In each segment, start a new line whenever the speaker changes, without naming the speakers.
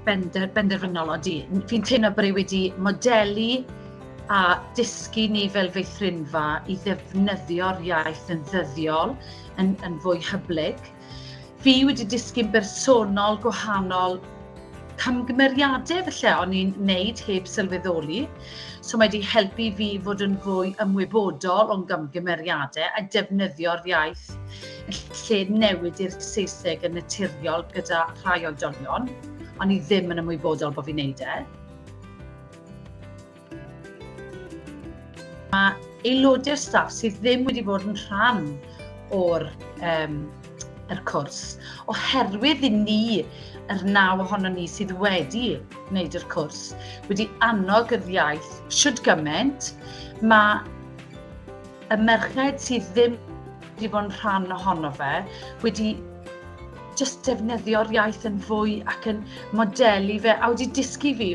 bender, benderfynol, ond fi'n teimlo bod e wedi modelu a dysgu ni fel feithrinfa i ddefnyddio'r iaith yn ddyddiol, yn, yn fwy hyblyg. Fi wedi disgyn bersonol gwahanol camgymeriadau felly o'n i'n neud heb sylweddoli. So mae wedi helpu fi fod yn fwy ymwybodol o'n gamgymeriadau a defnyddio'r iaith lle newid i'r Saesneg yn naturiol gyda rhai oedolion, ond i ddim yn ymwybodol bod fi'n neud e. Mae aelodau'r staff sydd ddim wedi bod yn rhan o'r um, yr cwrs, oherwydd i ni, yr naw ohono ni sydd wedi wneud yr cwrs, wedi annog yr iaith siwt gymaint, mae y merched sydd ddim wedi bod yn rhan ohono fe, wedi just defnyddio'r iaith yn fwy ac yn modelu fe, a wedi dysgu fi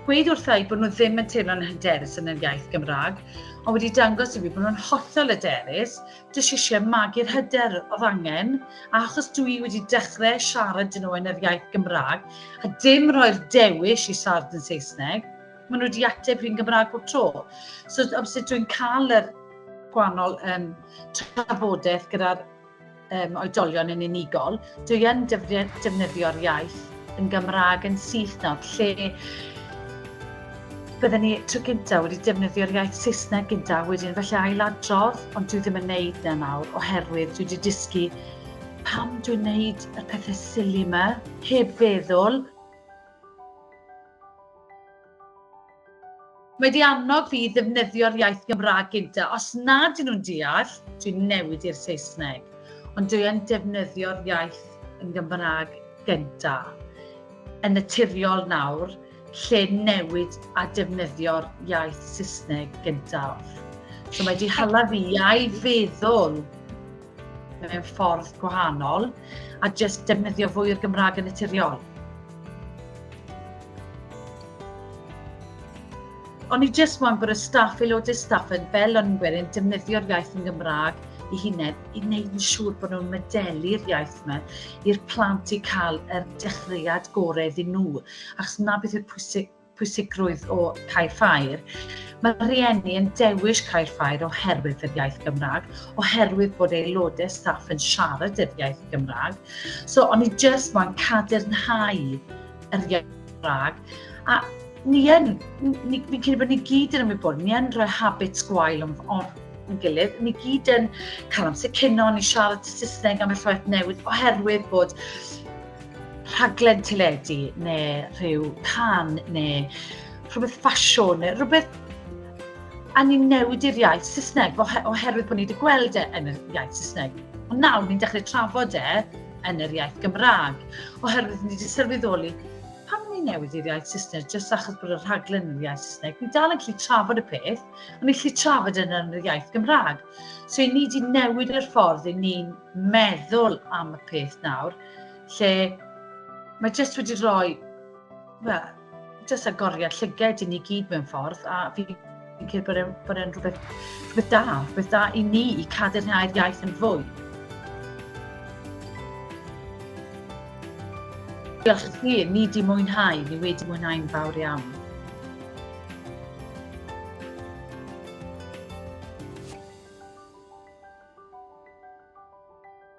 gweud wrtha i bod nhw ddim yn teimlo'n hyderus yn yr iaith Gymraeg, ond wedi dangos i fi bod nhw'n hollol hyderus, jyst eisiau magu'r hyder oedd angen, a achos dwi wedi dechrau siarad dyn nhw yn yr iaith Gymraeg, a dim roi'r dewis i siarad yn Saesneg, Maen nhw wedi ateb fi'n Gymraeg bob tro. So, obviously, dwi'n cael yr gwahanol um, trafodaeth gyda'r um, oedolion yn unigol. Dwi yn defnyddio'r iaith yn Gymraeg yn syth nawr, lle byddwn ni tro gyntaf wedi defnyddio'r iaith Saesneg gyntaf wedyn felly ailadrodd, ond dwi ddim yn neud na nawr oherwydd dwi wedi dysgu pam dwi'n neud y pethau sili yma, heb feddwl. Mae wedi annog fi i ddefnyddio'r iaith Gymraeg gynta. Os nad ydyn nhw'n deall, dwi'n newid i'r Saesneg. Ond dwi yn defnyddio'r iaith yn Gymraeg gynta. Yn naturiol nawr, lle newid a defnyddio'r iaith Saesneg gyntaf. So mae wedi hala fi i feddwl mewn ffordd gwahanol a jyst defnyddio fwy o'r Gymraeg yn naturiol. Ond i jyst moyn bod y staff, aelodau staff yn fel ynwyr yn defnyddio'r iaith yn Gymraeg i hunain, i wneud yn siŵr bod nhw'n medelu'r iaith yma i'r plant i cael yr dechreuad gorau iddyn nhw. Achos na beth yw'r pwysig, pwysigrwydd o cael ffair, mae rhieni yn dewis cael ffair oherwydd yr iaith Gymraeg, oherwydd bod aelodau staff yn siarad yr iaith Gymraeg. So, o'n i jyst mo'n cadernhau yr iaith Gymraeg. A ni yn, ni, fi'n credu bod ni gyd yn ymwybod, ni yn rhoi habits gwael o'n, on, yn gilydd. Ni gyd yn cael amser cynno, ni siarad y Saesneg am y llaeth newydd oherwydd bod rhaglen teledu neu rhyw can neu rhywbeth ffasiwn neu rhywbeth a ni'n newid i'r iaith Saesneg oherwydd bod ni wedi gweld e yn y iaith Saesneg. Ond nawr ni'n dechrau trafod e yn yr iaith Gymraeg oherwydd ni wedi sylweddoli pam ni'n newid i'r iaith Saesneg jyst achos bod y rhaglen yn yr iaith Saesneg. Ni dal yn gallu trafod y peth, ond ni'n gallu trafod e yn yr iaith Gymraeg. So, ni wedi newid yr ffordd i ni'n meddwl am y peth nawr lle mae jyst wedi rhoi, well, jyst agoriad llyged i ni gyd mewn ffordd, a fi yn cael bod e'n bod e'n rhywbeth, rhywbeth da, rhywbeth da i ni i cadarnhau'r iaith yn fwy. Diolch i chi, ni di mwynhau, ni wedi mwynhau'n fawr iawn.